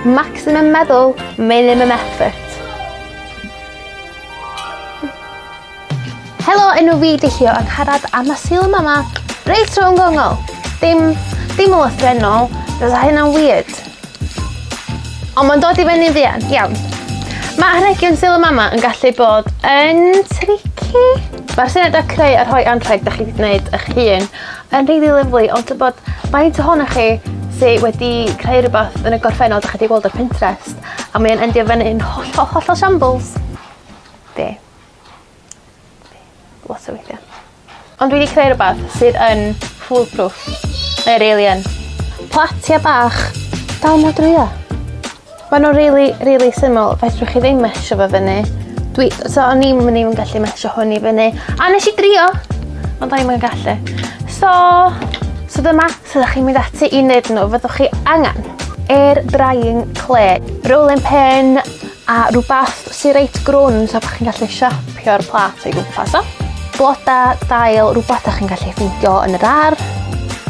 Maximum meddwl, minimum effort. Helo, enw fi Dihio ac harad a mae syl mama reit rhwng gongol. Dim, dim o lythrenol, roedd hynna'n weird. Ond mae'n dod i fyny'n fuan, iawn. Mae arhegion syl y mama yn gallu bod yn tricky. Mae'r syniad o creu a rhoi anrheg da chi wedi gwneud eich hun Mae'n rili lyfli ond tybed faint ohonoch chi sy wedi creu rwbath yn y gorffennol 'dach chi 'di weld ar Pinterest a mae e'n endio fynny'n hollol hollol shambles? Fi. Fi. Lot o weithia. Ond dwi 'di creu rwbath sydd yn fool proof. Mae o rili yn. Platia bach. Dal mlan dwli â. Mae nhw'n rili rili syml fedrwch chi ddim mesio fo fyny. Dwi... so o'n i'm yn even gallu mesio hwn i fyny. A nes i drio! Ond o'n i'm yn gallu. So, so dyma sut ydych chi'n mynd ati i wneud nhw. Fyddwch chi angen air drying clay, rolling pin a rhywbeth sy'n reit grwn so bod chi'n gallu siapio'r plat o'i gwmpas o. Bloda, dail, rhywbeth ydych chi'n gallu ffeindio yn yr ar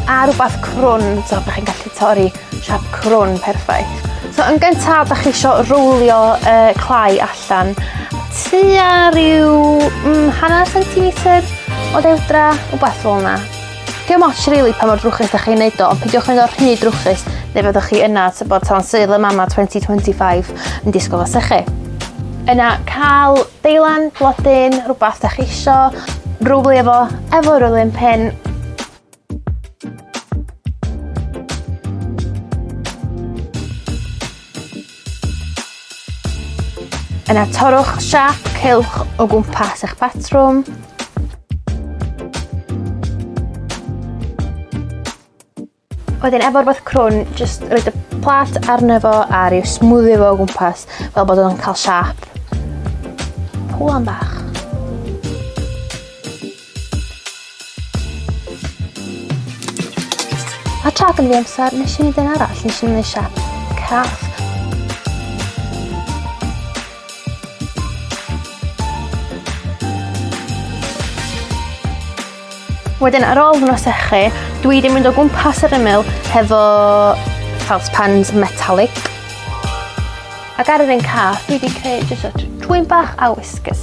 a rhywbeth crwn so bod chi'n gallu torri Siap crwn, perffaith. So yn gyntaf, da chi eisiau rowlio uh, clai allan tua rhyw mm, hanner centimetr o dewdra, o beth fel yna. Dio moch rili really, pa mor drwchus da chi'n neud o, ond pidiwch mynd o'r rhy drwchus, neu fyddwch chi yna, sy'n bod tan seil y mama 2025 yn disgwyl os chi. Yna cael deilan, blodyn, rhywbeth da chi isio, rwbl efo, efo rwbl yn pen, Yna torrwch siap cylch o gwmpas eich patrwm. Wedyn efo'r beth crwn, jyst roed y plat arno fo a rhyw smwddio fo o gwmpas fel bod o'n cael siap. Pwan bach. A tra gynnu amser, nes i wneud un arall, nes i wneud siap cath. Wedyn ar ôl fy nosechu, dwi wedi mynd o gwmpas yr ymyl hefo felt pans metallic Ac ar yr un cath dwi 'di creu jyst y twyn bach a whiskers.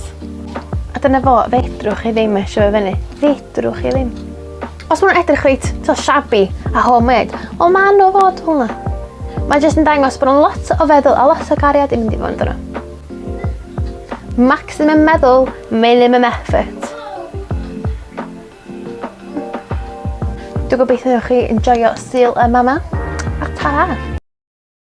A dyna fo, fedrwch chi ddim eisio fe fyny. Fedrwch chi ddim. Os ma'n edrych reit, to shabby a homemade, o ma' nhw fod hwnna. Mae jyst yn dangos bod yn lot o feddwl a lot o gariad i mynd i fod yna. Maximum meddwl, minimum effort. Dwi'n gobeithio chi yn joio syl y mama. A ta!